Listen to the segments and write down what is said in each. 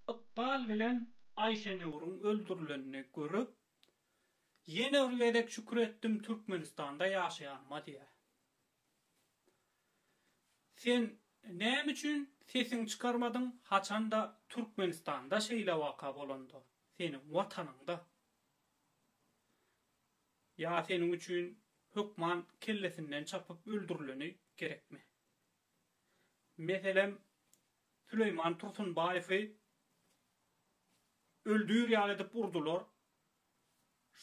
Ykbal bilen Aýşenurun öldürilenini görüp, ýene bir gezek şükür etdim Türkmenistanda ýaşaýanyma diýýär. Sen näme üçin sesiň çykarmadyň haçanda Türkmenistanda şeýle waka bolanda seniň watanyňda ýa seniň üçin hökman kellesinden çapyp öldürileni gerekmi? Meselem Süleýman Tursunbaýewi öldüýr ýaly edip urdular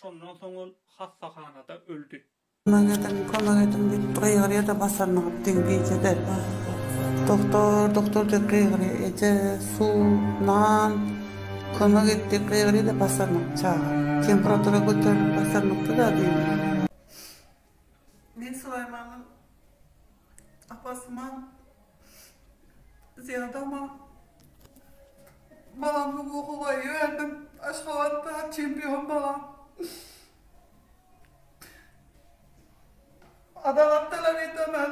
Şondan soň ol hassahanada öldi. Kömek ediň, kömek ediň diýip gygyrýa-da basanyny diňe gije-de. Doktor, doktor diýip gygyrýa. Eje, suw, nan, kömek et diýip gygyrýa-da basanyny çaga. Temperatura göterilip basanyny-da diýip. Men Sulaýmanyň apasyman, zyýadama balamyň hukuga eýe berdim. Aşgabatda çempion balam. Adalat talap edemen.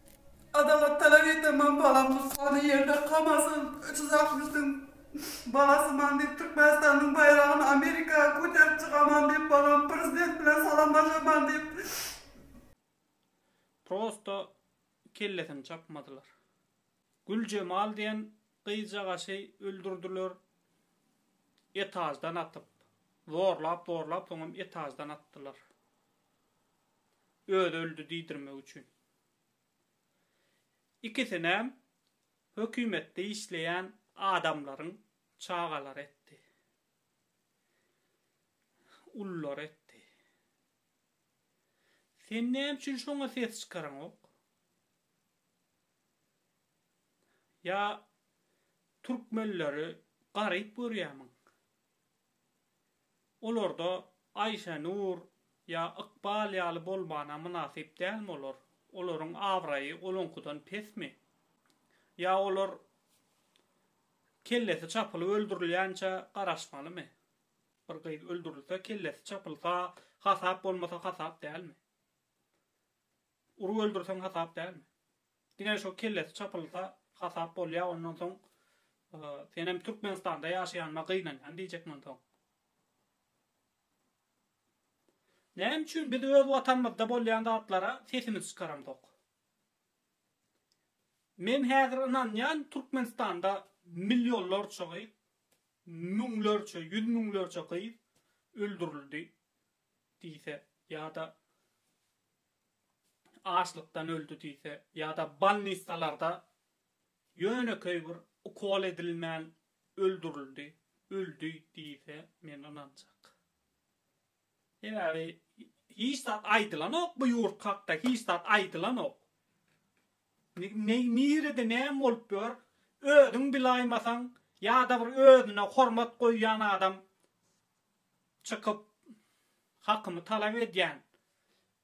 Adalat talap eteman balam tussagna ýerde kamasyn çyzak düşsün balasyman diýip Türkmenistanyň baýragyny Amerika koterip çykaman diýip balam prezident bilen salamlaşaman diýip. Prosto kellesini çapmadylar. Güljemal diýen gyzjagaşy öldürdiler etaždan atyp. Zorlap zorlap soňam etaždan atdylar. Özi öldi diýdirmek üçin. Ikisinem hökümetde işleýän adamlaryň çagalary etdi. Ululary etdi. Sen näme üçin şoňa ses çykaraňok? Ýa türkmenleri garyp görýämiň? Olarda Aýşenur ýa Ykbal ýaly bolmana mynasyp dälmi olar? Olaryň abraýy onuňkydan pesmi? Ýa olar kellesi çapylyp öldürilýänçä garaşmalymy? Bir gyz öldürilse, kellesi çapylsa hasap bolmasa hasap dälmi? Urup öldürseň hasap dälmi? Diňe şu kellesi çapylsa hasap bolýa ondan soň senem Türkmenistanda ýaşaýanyma gynanýan diýjek munsoň. Näme üçin biz öz watanymyzda bolýan zatlara sesimiz çykaramzok. Men häzir ynanýan Türkmenistanda millionlarça gyz, müňlerçe, ýüz müňlerçe gyz öldürildi. diýse ýa-da açlykdan öldi diýse ýa-da bolnissalarda ýönekeý bir ukol edilmän öldürildi, öldi diýse men ynanjak. Sebäbi hiç zat aýdylanok bu ýurt hakda hiç zat aýdylanok. Nirede näme bolup ýör özüň bilaýmasaň ýa-da bir özüne hormat goýýan adam çykyp hakymy talap edýän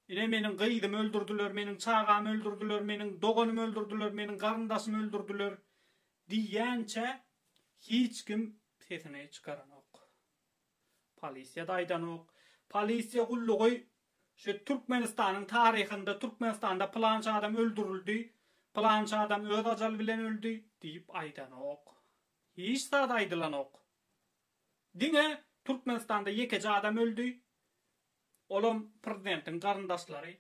ine meniň gyzymy öldürdiler meniň çagamy öldürdiler meniň doganymy öldürdiler meniň garyndaşymy öldürdiler diýýänçä hiç kim sesini çykaranok polisiýada aýdanok polisiýa gullugy şu Türkmenistanyň taryhynda Türkmenistanda pylança adam öldürildi pylança adam öz ajaly bilen öldi diýip aýdanok hiç zat aýdylanok Diňe Türkmenistanda ýekeje adam öldi, olam prezidentiň garyndaşlary,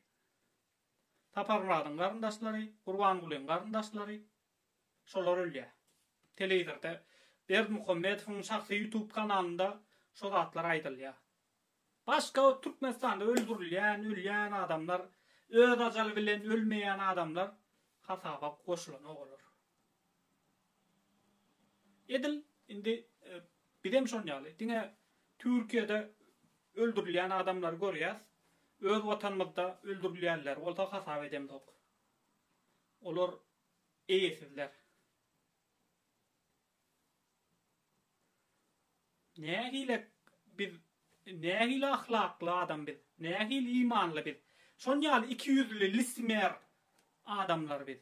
Saparmyradyň garyndaşlary, Gurbangulyň garyndaşlary, şolar ölýär. Telewizorda Berdimuhamedowyň şahsy ýutub kanalynda şo zatlar aýdylýar. Başga Türkmenistanda öldürilýän, ölýän adamlar, öz ajaly bilen ölmeýän adamlar hasaba goşulanok olar. Edil indi bizem şon ýaly, diňe Türkiýede öldürilýän adamlary görýäs, öz watanymyzda öldürilýänleri bolsa hasap edemzok. Olar eýesizler. Nähili biz, nähili ahlakly adam biz, nähili imanly biz, şon ýaly ikiýüzli, lisimer adamlar biz.